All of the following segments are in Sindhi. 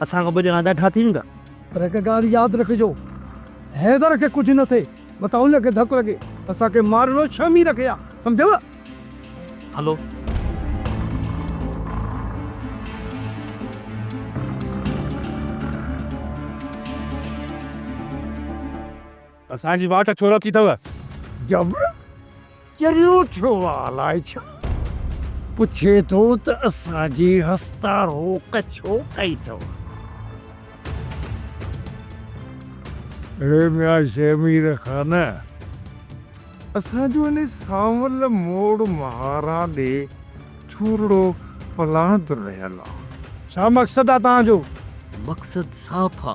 اسان کان ٻه ڄڻا ڏاڍا ٿي ويندا. پر هڪ ڳالهه ياد رکجو، حيدر کي ڪجهه نه ٿئي، متان هن کي ڌڪ لڳي ته اسان کي مارڻو ڇهه مير کي آ، سمجهيو؟ هلو. اسان جي واٽ ڇو روڪي اٿو؟ جبر چريو ٿيو آ الاء ڇا پڇي ٿو ته اسان جي هستا روڪ ڇو ڪئي اٿو؟ اڙي ميان شهمير خان اسان جو ان سانول موڙ مهارا ڏي ڇورڙو پلاند رهيل آ. ڇا مقصد آ توهان جو؟ مقصد صاف آ.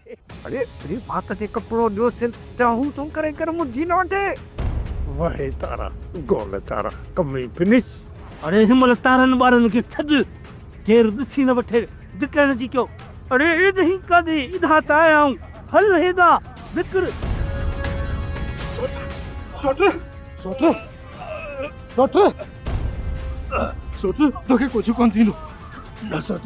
اڙي اڙي ڀات جي ڪپڙو ڏيو سر جا هو تون ڪري ڪر مجھي نه وٺي. وهي تارا گول تارا ڪمي فنش. اڙي هن مهل تارن ٻارن کي ڇڏ ڪير ڏسي نه وٺي ڊڪڻ جي ڪيو. اڙي ايڏهين ڪاڏي اڏها ته آيائون هل هيڏا ڊڪڙ. سوٽ سوٽ سوٽ سوٽ سوٽ توکي ڪجھه ڪونه ٿيندو نه سوٽ.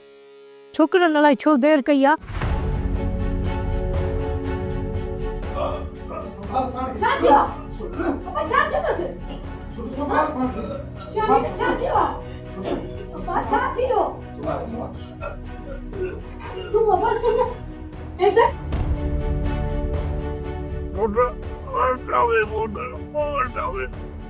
ڇوڪرن الائي ڇو دير ڪئي آ.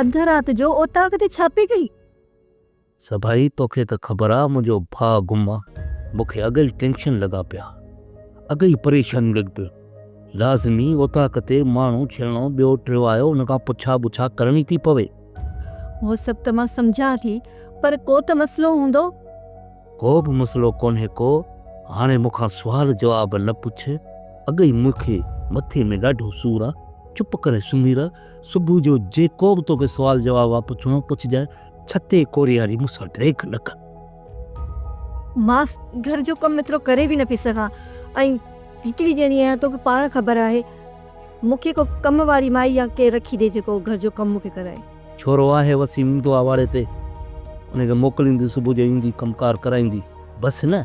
اڌ رات جو اوطاق تي ڇا پئي ڪئي؟ سڀائي توکي ته خبر آ منهنجو ڀاء گم آ. مون کي اڳ ئي ٽينشن لڳا پيا. اڳ ئي پريشانيون لڳي پيون. لازمي اوطاق تي ماڻهو ڇيڻو ٻيو ٽيو آيو ان کان پڇا ٻڇا ڪرڻي ٿي پوي. اهو سڀ ته مان سمجهان ٿي پر ڪو ته مسئلو هوندو. ڪو به مسئلو ڪونهي ڪو. هاڻي مون کان سوال جواب نه پڇ. اڳ ئي مون کي مٿي ۾ ڏاڍو سور آ. چپ ڪري سمهي رهه صبح جو جيڪو به توکي سوال جواب آ پڇڻو پڇجانء، ڇتي ڪورياري مون سان ڊريڪ نه ڪر. مان گهر جو ڪم ايترو ڪري به نه پئي سگهان ۽ هڪڙي ڄڻي آهيان توکي پاڻ خبر آهي مون کي ڪو ڪم واري مائي يا ڪير رکي ڏي جيڪو گهر جو ڪم مون کي ڪرائي. ڇورو آهي وسيم ايندو آ واڙي تي ان کي موڪليندي صبح جو ايندي ڪم ڪار ڪرائيندي بس نه.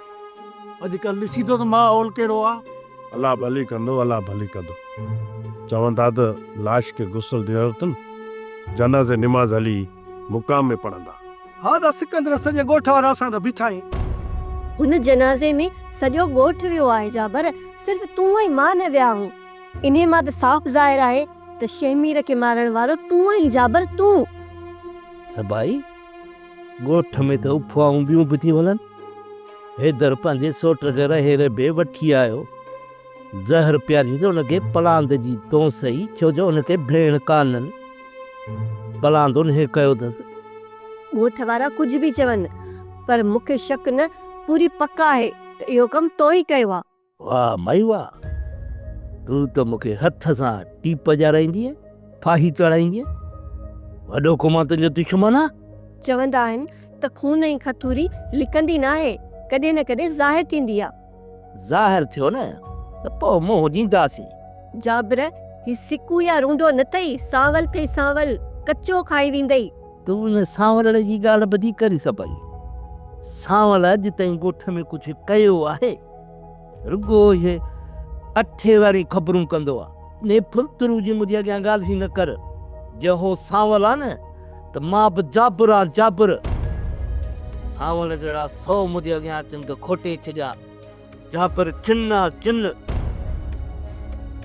اڄ ڪلهه ڏسي ٿو ته ماحول ڪهڙو آ. الله ڀلي ڪندو الله ڀلي ڪندو. چون ٿا ته لاش کي غسل ڏيڻو اٿن جنازي نماز هلي مقام ۾ پڙهندا. ها ته سڪندر سڄي ڳوٺ وارا اسان ته بيٺا آهيون. هن جنازي ۾ سڄو ڳوٺ ويو آهي جابر صرف تون ۽ مان نه ويا آهون. انهي مان ته صاف ظاهر آهي ته شهمير کي مارڻ وارو تون آهين جابر تون. سڀائي ڳوٺ ۾ ته افواهون ٻيون به ٿيون هلن. حيدر پنهنجي سوٽ کي رهي ربي وٺي آيو. زهر پياريس ته ان کي پلاند جي دونس هئي، ڇو جو ان کي ڀيڻ ڪانهن. پلاند انهيء ڪيو اٿس. ڳوٺ وارا ڪجهه به چون، پر مون کي شڪ نه، پوري پڪ آهي ته اهو ڪم تو ئي ڪيو آهي. واه مائي واه! تون ته مون کي هٿ سان ٽيپ ڄارائيندينء، ڦاهي چڙهائيندينء. وڏو ڪو مان تنهنجو دشمن آهيان؟ چوندا آهن ته خون ۽ کٿوري لڪندي ناهي، ڪڏهن نه ڪڏهن ظاهر ٿيندي آ. ظاهر ٿيو نه ته پوء منهن ڏينداسين. جابر، هي سڪو يا رونڊو نه ٿئي، سانول ٿئي سانول، ڪچو کائي ويندئي. تون ان سانولڙي جي ڳالهه ٻڌي ڪري سبئي سانول اڄ تائين ڳوٺ ۾ ڪجهه ڪيو آهي؟ رڳو اهي اٺي واريون خبرون ڪندو آ. انهيء ڦلترو جي منهنجي اڳيان ڳالهه نه ڪر. جي هو سانول آ نه ته مان به جابر آ، جابر. سانول جهڙا سؤ منهنجي اڳيان اچن ته کوٽي ڇڏيا. جابر چن آ، چن.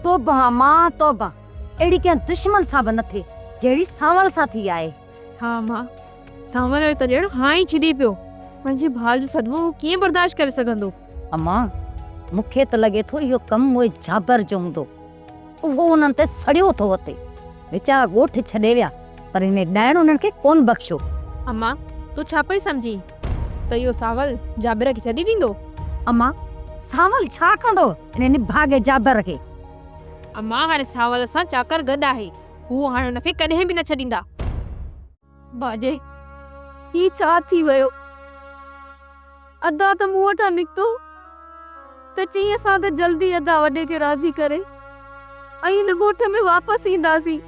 توبه امان، توبه. اهڙي ڪنهن دشمن سان به نه ٿئي، جهڙي سانول سان ٿي آهي. ها ماء، سانول جو ته ڄڻ هان ئي ڇڏي پيو. پنهنجي ڀاء جو صدمو هو ڪيئن برداشت ڪري سگهندو؟ اما، مون کي ته لڳي ٿو اهو ڪم اهي جابر جو هوندو. اهو انهن تي سڙيو ٿو وتي. ويچارا ڳوٺ ڇڏي ويا، پر هن ڏائڻ انهن کي ڪونه بخشيو. اما، تون ڇا پئي سمجهين ته اهو سانول جابر کي ڇڏي ڏيندو؟ اما، سانول ڇا ڪندو انهي نڀاڳي جابر کي؟ اما، هاڻي سانول سان چاڪر گڏ آهي. هو هاڻ ان کي ڪڏهن به نه ڇڏيندا. باجي، هي ڇا ٿي ويو؟ ادا ته مون وٽان نڪتو ته چيس ها ته جلدي ادا وڏي کي راضي ڪري ۽ هن ڳوٺ ۾ واپس اينداسين.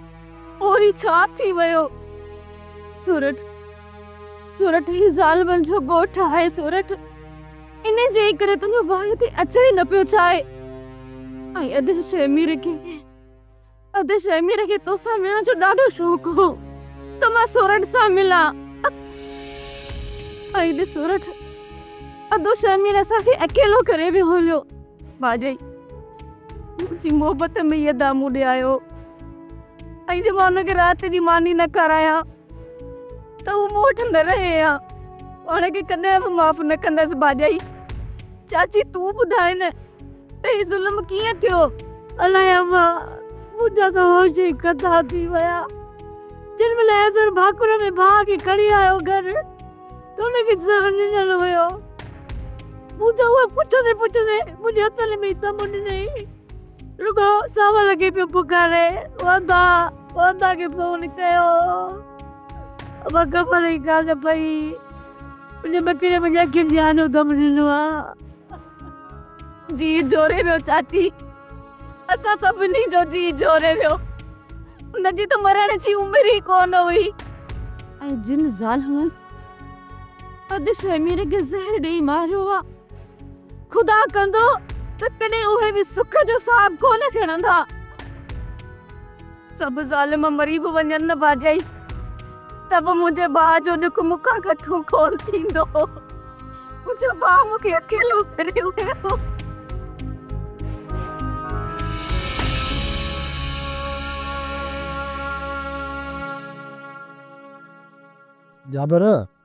پوء هي ڇا ٿي ويو؟ سورٺ، سورٺ هي زالبل جو ڳوٺ آهي سورٺ، انهي جي ئي ڪري تنهنجو ڀاء هتي اچڻ ئي نه پيو چاهي ۽ ادي شيمير کي ادا شهمير کي توسان ملڻ جو ڏاڍو شوق هو ته مان سورٺ سان ملان ۽ ڏس سورٺ ادو شهمير اسان کي اڪيلو ڪري ويو هيو باجي منهنجي محبت ۾ ادا مون ڏي آيو ۽ جي مان ان کي رات جي ماني نه کارايان ته هو مون وٽ نه رهي ها پاڻ کي ڪڏهن به معاف نه ڪندس ڀاڄائي چاچي تون ٻڌاء نه ته هي ظلم ڪيئن ٿيو الائي اما منهنجا ته هوش ئي کتا ٿي ويا جنهن مهل حيدر ڀاڪر ۾ ڀاء کي کڻي آيو گهر ته ان کي زهر ڏنل هيو مون ته اهو پڇندي پڇندي منهنجي هٿن ۾ ئي دم ڏنائين. رڳو ساهه لڳي پيو پڪاري، واندا، واندا کي فون ڪيو. امان خبر ئي ڪانه پئي. منهنجي ٻچڙي منهنجي اکين جي آنو دم ڏنو آ. جيء جوڙي ويو چاچي. اسان سڀني جو جيء جوڙي ويو. هن جي ته مرڻ جي عمر ئي ڪونه هئي. ۽ جن ظالمن ادشي مير کي زهر ڏيئي ماريو آ. خدا ڪندو ته ڪڏهن اهي به سک جو صاحب ڪونه کڻندا. سڀ ظالم مري به وڃن نه ڀاڄائي ته به منهنجي ڀاء جو ڏک مون کان گهٽو ڪونه ٿيندو. منهنجو ڀاء مون کي اڪيلو ڪري ويو. جابر!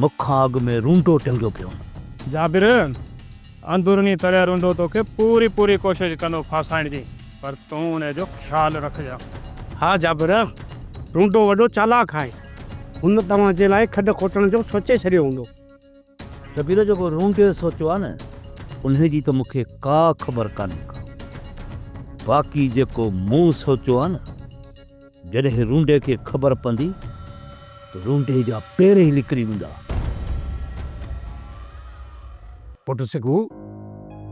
مک کان اڳ ۾ رونڊو ٽنگيو پيو هوندو. جابر، اندروني طرح رونڊو توکي پوري پوري ڪوشش ڪندو ڦاسائڻ جي، پر تون انهيء جو خيال رکجان. ها جابر، رونڊو وڏو چالاڪ آهي، هن توهان جي لاء کڏ کوٽڻ جو سوچي ڇڏيو هوندو. جابر، جيڪو رونڊي سوچيو آهي نه، انهيء جي ته مون کي ڪا خبر ڪانهي ڪا. باقي جيڪو مون سوچيو آهي نه. جڏهن رونڊي کي خبر پوندي ته رونڊي جا پير ئي لڪري ويندا. پٽ سگهو،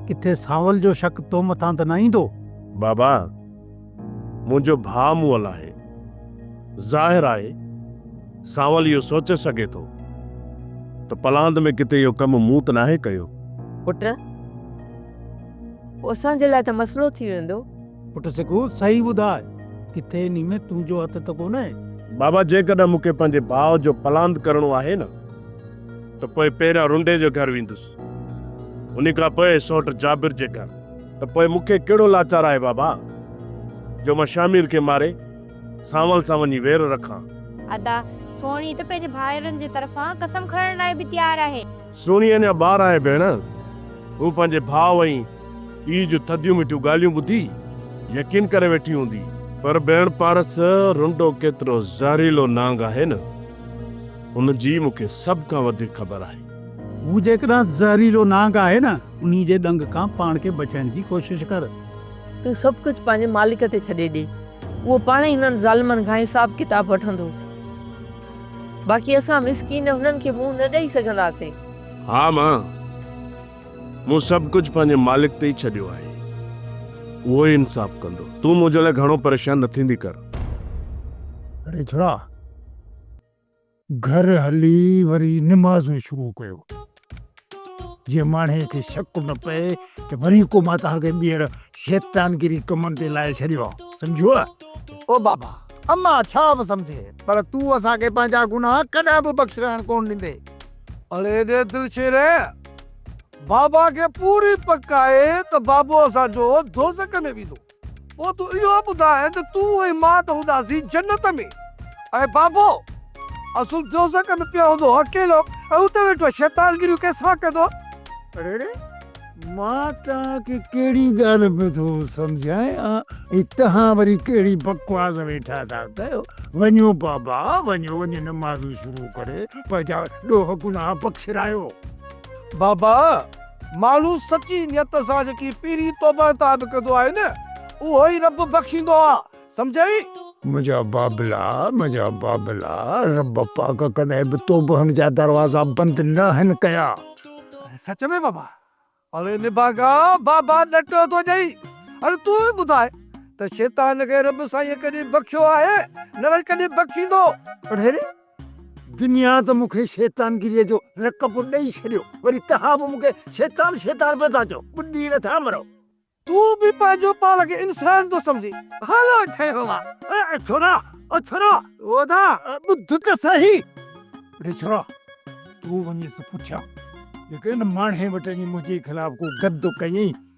ڪٿي سانول جو شڪ تو مٿان ته نه ايندو؟ بابا، منهنجو ڀاء مئل آهي. ظاهر آهي، سانول اهو سوچي سگهي ٿو ته پلاند ۾ ڪٿي اهو ڪم مون ته ناهي ڪيو. پٽ، پوء اسان جي لاء ته مسئلو ٿي ويندو. پٽ سکو، صحيح ٻڌاء، ڪٿي انهي ۾ تنهنجو هٿ ته ڪونهي؟ بابا، جيڪڏهن مون کي پنهنجي ڀاء جو پلاند ڪرڻو آهي نه، ته پوء پهريان رنڊي جي گهر ويندس، انهي کان پوء سؤٽ جابر جي گهر. ته پوء مون کي ڪهڙو لاچار آهي بابا، جو مان شامير کي ماري، سانول سان وڃي وير رکان؟ ادا، سهڻي ته پنهنجي ڀائرن جي طرفان قسم کڻڻ لاء به تيار آهي. سهڻي اڃا ٻار آهي ڀيڻ. هوء پنهنجي ڀاء ۽ پيء جون ٿڌيون مٺيون ڳالهيون ٻڌي يقين ڪري ويٺي هوندي. پر ڀيڻ پارس، رنڊو ڪيترو زهريلو نانگ آهي نه، ان جي مون کي سڀ کان وڌيڪ خبر آهي. هو جيڪڏهن زهريلو نانگ آهي نه، انهي جي ڏنگ کان پاڻ کي بچائڻ جي ڪوشش ڪر. تون سڀ ڪجهه پنهنجي مالڪ تي ڇڏي ڏي. اهو پاڻهي هنن ظالمن کان حساب ڪتاب وٺندو. باقي اسان مسڪين هنن کي منهن نه ڏئي سگهنداسين. ها مان، مون سڀ ڪجهه پنهنجي مالڪ تي ئي ڇڏيو آهي. اهو ئي انصاف ڪندو. تون منهنجي لاء گهڻو پريشان نه ٿيندي ڪر. اڙي ڇوڙا! گهر هلي وري نمازون شروع ڪيو. جيئن ماڻهيء کي شڪ نه پئي ته وري ڪو مان توهان کي ٻيهر شيطانگيري ڪمن تي لائي ڇڏيو آهي. سمجهيوء؟ او بابا! اما ڇا به سمجهي، پر تون اسان کي پنهنجا گناهه ڪڏهن به بخش رهڻ ڪونه ڏيندي. اڙي ايڏي دلشيريء! بابا کي پوري پڪ آهي ته بابو اسان جو دوزخ ۾ ويندو. پوء تون اهو ٻڌاء ته تون ۽ مان ته هونداسين جنت ۾، ۽ بابو اصل دوزخ ۾ پيو هوندو اڪيلو ۽ اتي ويٺو شيطان گريون ڪنهن سان ڪندو؟ اڙڙي، مان توهان کي ڪهڙي ڳالهه ۾ ٿو سمجهايان ۽ توهان وري ڪهڙي بڪواس ويٺا ٿا ڪيو. وڃو بابا وڃو، وڃي نمازون شروع ڪري پنهنجا ڏوهه گناهه بخشرايو. بابا! ماڻهو سچي نيت سان جيڪي پيري توبه عطا به ڪندو آهي نه، اهو ئي رب بخشيندو آ، سمجهيئي؟ منهنجا بابلا، منهنجا بابلا، رب پاڪ ڪڏهن به توبهن جا دروازا بند ناهن ڪيا. سچ ۾ بابا! اڙي نڀاڳا، بابا ڏٽو ٿو ڏئي. هاڻي تون ئي ٻڌاء ته شيطان کي رب سائينء ڪڏهن بخشيو آهي؟ نه وري ڪڏهن بخشيندو؟ اڙي! دنيا ته مون کي شيطانگيريء جو لقب ڏئي ڇڏيو، وري توهان به مون کي شيطان شيطان پئي ٿا چئو، ٻڏي نٿا مرو. تون به پنهنجو پاڻ کي انسان ٿو سمجهين، ڀلو ٺهيو وا. اي ڇورا، او ڇورا. او دا. ٻڌ ته سهي. اڙي ڇورا، تون وڃيس پٺيان جيڪڏهن ان ماڻهي وٽ اڃي منهنجي خلاف ڪو گد ڪيئين،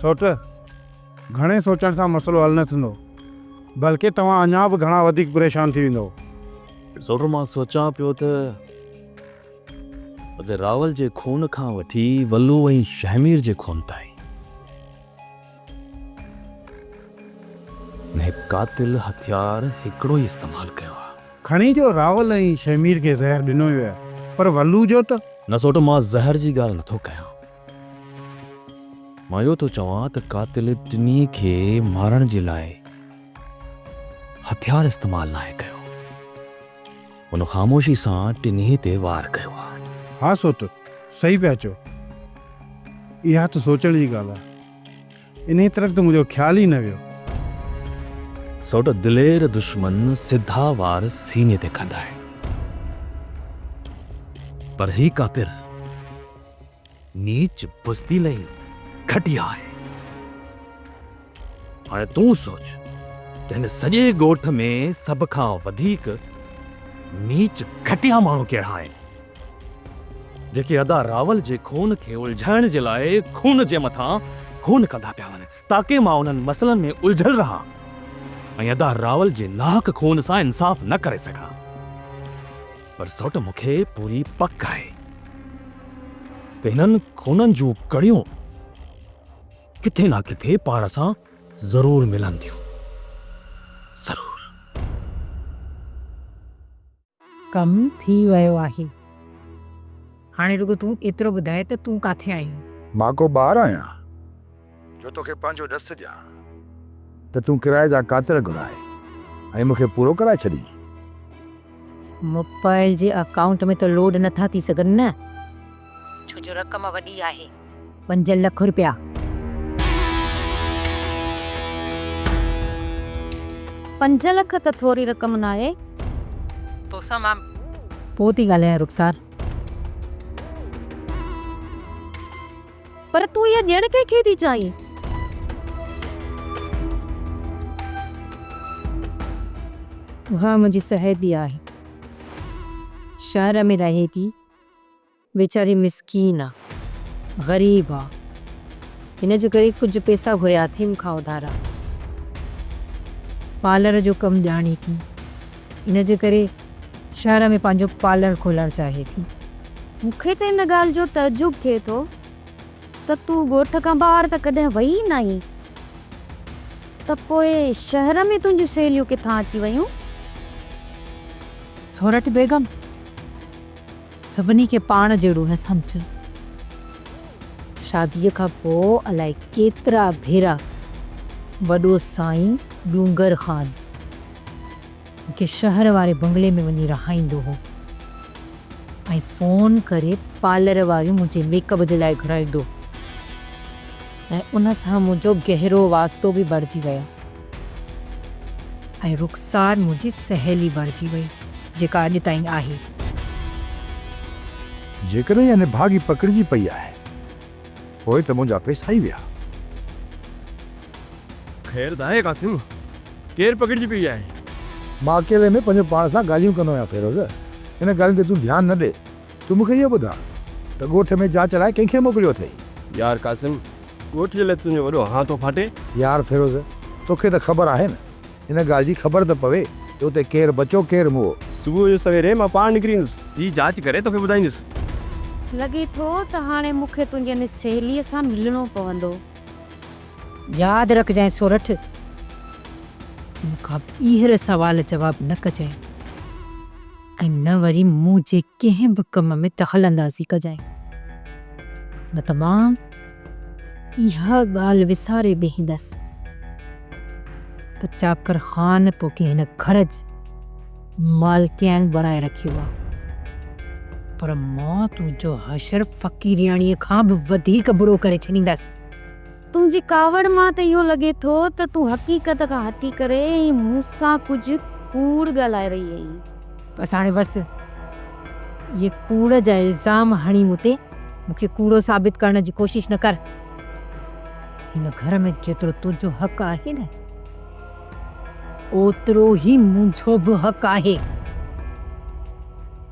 سوٽ، گهڻي سوچڻ سان مسئلو حل نه ٿيندو، بلڪه توهان اڃا به گهڻا وڌيڪ پريشان ٿي ويندؤ. سوٽ، مان سوچان پيو ته. ادي راول جي خون کان وٺي ولو ۽ شهمير جي خون تائين ۾ قاتل هٿيار هڪڙو ئي استعمال ڪيو آ. کڻي جو راول ۽ شهمير کي زهر ڏنو ويو آهي پر ولو جو ته. نه سوٽ مان زهر جي ڳالهه نٿو ڪيان مان اهو ٿو چوان ته قاتل ٽنهي کي مارڻ جي لاء هٿيار استعمال ناهي ڪيو. هن خاموشي سان ٽنهي تي وار ڪيو آ. ها سوٽ، صحيح پيا چئو. اها ته سوچڻ جي ڳالهه آ. انهيء طرف ته منهنجو خيال ئي نه ويو. سوٽ دلير دشمن سڌا وار سيني تي کندا آهن. پر هي ڪا تر. نيچ بزدل ۽ گهٽيا آهي. هاڻي تون سوچ ته هن سڄي ڳوٺ ۾ سڀ کان وڌيڪ نيچ گهٽيا ماڻهو ڪهڙا آهن، جيڪي ادا راول جي خون کي الجهائڻ جي لاء خون جي مٿان خون ڪندا پيا وڃن، تاڪه مان انهن مسئلن ۾ الجهيل رهان ۽ ادا راول جي ناحق خون سان انصاف نه ڪري سگهان. پر سؤٽ مون کي پوري پڪ آهي ته هنن خونن جون ڪڙيون ڪٿي نه ڪٿي پاڻ سان ضرور ملن ٿيون. ضرور. ڪم ٿي ويو آهي. هاڻي رڳو تون ايترو ٻڌاء ته تون ڪاٿي آهين؟ مان ڪو ٻار آهيان. جو توکي پنهنجو ڏس ڏيان. ته تون ڪرايي جا ڪاتر گهرائي ۽ مون کي پورو ڪرائي ڇڏين. موبائل جي اڪائونٽ ۾ ته لوڊ نٿا ٿي سگهن نه؟ ڇو جو رقم وڏي آهي. پنج لک روپيا. پنج لک ته ٿوري رقم ناهي. توسان مان پوء ٿي ڳالهايان رخسار. پر تون اها ڏيڻ ڪنهن کي ٿي چاهين؟ اها منهنجي سهيلي آهي. شهر ۾ رهي ٿي. ويچاري مسڪين آ. غريب آ. هن جي ڪري ڪجهه پئسا گهريا اٿئي مون کان اڌارا. پارلر جو ڪم ڄاڻي ٿي. ان جي ڪري شهر ۾ پنهنجو پارلر کولڻ چاهي ٿي. مون کي ته ان ڳالهه جو تعجب ٿئي ٿو ته تون ڳوٺ کان ٻاهر ته ڪڏهن وئي ئي ناهين ته پوء شهر ۾ تنهنجون سهيليون ڪٿان اچي ويون؟ سورٺ بيگم، سڀني کي پاڻ جهڙو نه سمجهه. شاديء کان پوء الائي ڪيترا ڀيرا وڏو سائين ڏونگر خان مون کي شهر واري بنگلي ۾ وڃي رهائيندو هو ۽ فون ڪري پارلر واريون منهنجي ميڪ اپ جي لاء گهرائيندو هو ۽ ان سان منهنجو گهرو واسطو به بڻجي ويو. ۽ رخسار منهنجي سهيلي بڻجي وئي، جيڪا اڄ تائين آهي. جيڪڏهن اها نڀاڳي پڪڙجي پئي آهي، پوء ته منهنجا پئسا ئي ويا. خير ته آهي قاسم، ڪير پڪڙجي پئي آهي؟ مان اڪيلي ۾ پنهنجو پاڻ سان ڳالهيون ڪندو آهيان فيروز، ان ڳالهين تي تون ڌيان نه ڏي. تون مون کي اهو ٻڌاء ته ڳوٺ ۾ جاچ لاء ڪنهن کي موڪليو اٿئي؟ يار قاسم، ڳوٺيء لاء تنهنجو وڏو هان ٿو ڦاٽي. يار فيروز، توکي ته خبر آهي نه، ان ڳالهه جي خبر ته پوي ته اتي ڪير بچو ڪير موئو. صبح جو سويري مان پاڻ نڪري ايندس. هي جاچ ڪري توکي ٻڌائيندس. لڳي ٿو ته هاڻي مون کي تنهنجي ان سهيليء سان ملڻو پوندو. ياد رکجانء سورٺ، مون کان ٻيهر سوال جواب نه ڪجانء. ۽ نه وري مون جي ڪنهن به ڪم ۾ دخل اندازي ڪجانء، نه ته مان اها ڳالهه وساري بيهندس ته چاڪر خان توکي هن گهر جي مالڪيائن بڻائي رکيو آ، پر مان تنهنجو حشر فقيرياڻيء کان به وڌيڪ برو ڪري ڇڏيندس. تنهنجي ڪاوڙ مان ته اهو لڳي ٿو ته تون حقيقت کان هٽي ڪري ۽ مون سان ڪجهه ڪوڙ ڳالهائي رهي آهين. بس هاڻي بس. اهي ڪوڙ جا الزام هڻي مون تي مون کي ڪوڙو ثابت ڪرڻ جي ڪوشش نه ڪر. هن گهر ۾ جيترو تنهنجو حق آهي نه اوترو ئي منهنجو به حق آهي.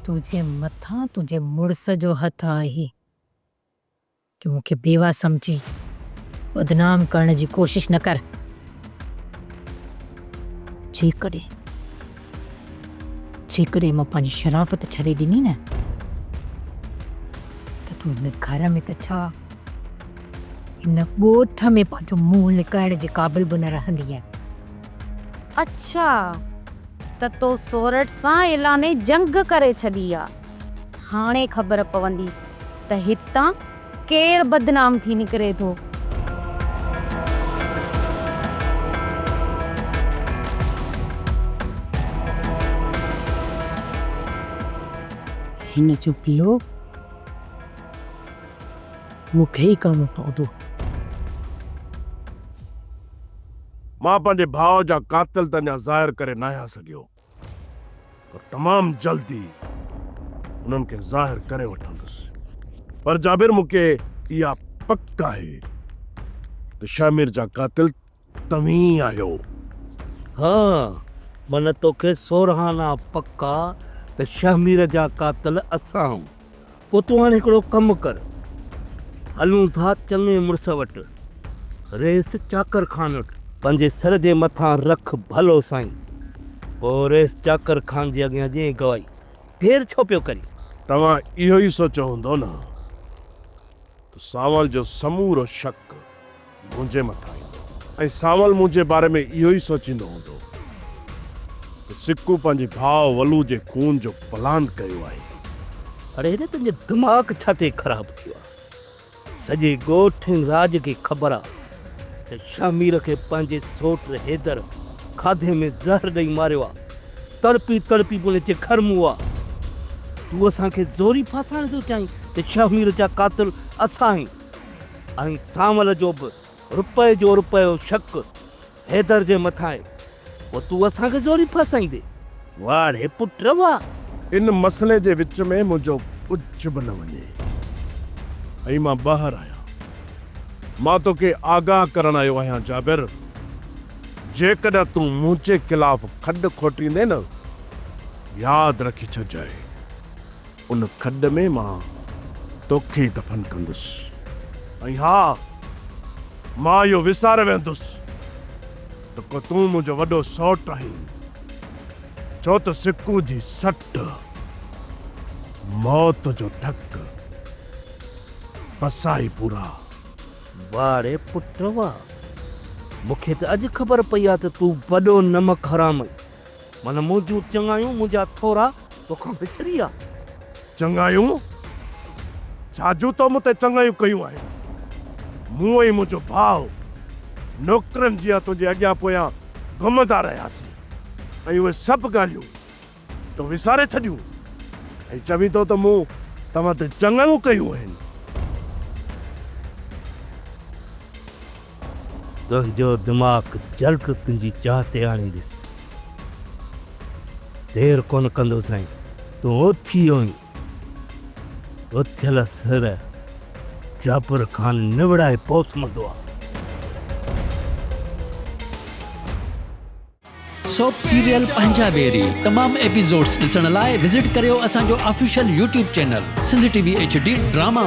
تنهنجي مٿان تنهنجي مڙس جو هٿ آهي. تون مون کي بيواه سمجهي بدنام ڪرڻ جي ڪوشش نه ڪر. جيڪڏهن، جيڪڏهن مان پنهنجي شرافت ڇڏي ڏني نه ته تون هن گهر ۾ ته ڇا، هن ڳوٺ ۾ پنهنجو منهن لڪائڻ جي قابل به نه رهندينء. اڇا ته تو سورٺ سان اعلان جنگ ڪري ڇڏي آ. هاڻي خبر پوندي ته هتان ڪير بدنام ٿي نڪري ٿو. هن جو پيء مون کي ئي ڪرڻو پوندو. مان پنهنجي ڀاء جا قاتل ته اڃا ظاهر ڪري ناهيان سگهيو. پر تمام جلد ئي انهن کي ظاهر ڪري وٺندس. پر جابر مون کي اها پڪ آهي ته شهمير جا قاتل توهين ئي آهيو. ها معنيٰ توکي سورهانه پڪ آ ته شهمير جا قاتل اسان آهيون. پوء تون هاڻي هڪڙو ڪم ڪر، هلون ٿا چڱي مڙس وٽ، ريس چاڪر خان وٽ. پنهنجي سر جي مٿان رک ڀلو سائين. پوء ريس چاڪر خان جي اڳيان ڏيئي گوائي. دير ڇو پيو ڪرين؟ توهان اهو ئي سوچيو هوندو نه ته سانول جو سمورو شڪ منهنجي مٿان ايندو ۽ سانول منهنجي باري ۾ اهو ئي سوچيندو هوندو ته سڪو پنهنجي ڀاء ولو جي خون جو پلان ڪيو آهي. اڙي هن تنهنجو دماغ ڇا تي خراب ٿيو آهي. سڄي ڳوٺ ۽ راڄ کي خبر آهي ته شهمير کي پنهنجي سوٽ حيدر کاڌي ۾ زهر ڏئي ماريو آهي. تڙپي تڙپي پڻ هتي گهر مئو آهي. تون اسان کي زوري ڦاسائڻ ٿو چاهين ته شهمير جا قاتل اسان آهيون. ۽ سانول جو به رپئي جو رپيو شڪ حيدر جي مٿانئي پوء تون اسان کي زوري ڦاسائيندي واڙهي پٽ واهه. ان مسئلي جي وچ ۾ منهنجو ڪجهه به نه وڃي ۽ مان ٻاهر آهيان. مان توکي آگاهه ڪرڻ آيو آهيان جابر جيڪڏهن تون منهنجي خلاف کڏ کوٽيندين ياد رکي ڇڏجانء. ان کڏ ۾ مان توکي ئي دفن ڪندس ۽ ها مان اهو وساري ويهندس ته ڪو تون منهنجو وڏو سؤٽ آهين ڇو ته سڪون جي سٽ موت جو ڌڪ پسائي پورا. واڙي پٽ وا مون کي ته اڄ خبر پئي آهي ته تون وڏو نمڪ حرام آهين. من منهنجون چڱايون منهنجا ٿورا توکان وسري ويا. چڱايون؟ ڇا جون تو مون تي چڱايون ڪيون آهن؟ مون ۽ منهنجو ڀاء نوڪرن جيان تنهنجي اڳيان پويان گهمندا رهياسين ۽ اهي سڀ ڳالهيون تو وساري ڇڏيون ۽ چوين ٿو ته مون توهان تي چڱايون ڪيون آهن. تنهنجو دماغ جلد تنهنجي جاء تي آڻينديس. دير ڪونه ڪندو سائين. تون اٿي وڃ. اٿيل سر جابر خان نوڙائي پوسمندو آ. سوپ سيريل پنهنجا بيري تمام ايپيسوڊس ڏسڻ لاء وزٽ ڪريو اسان جو official YouTube channel Sindh T V H D drama.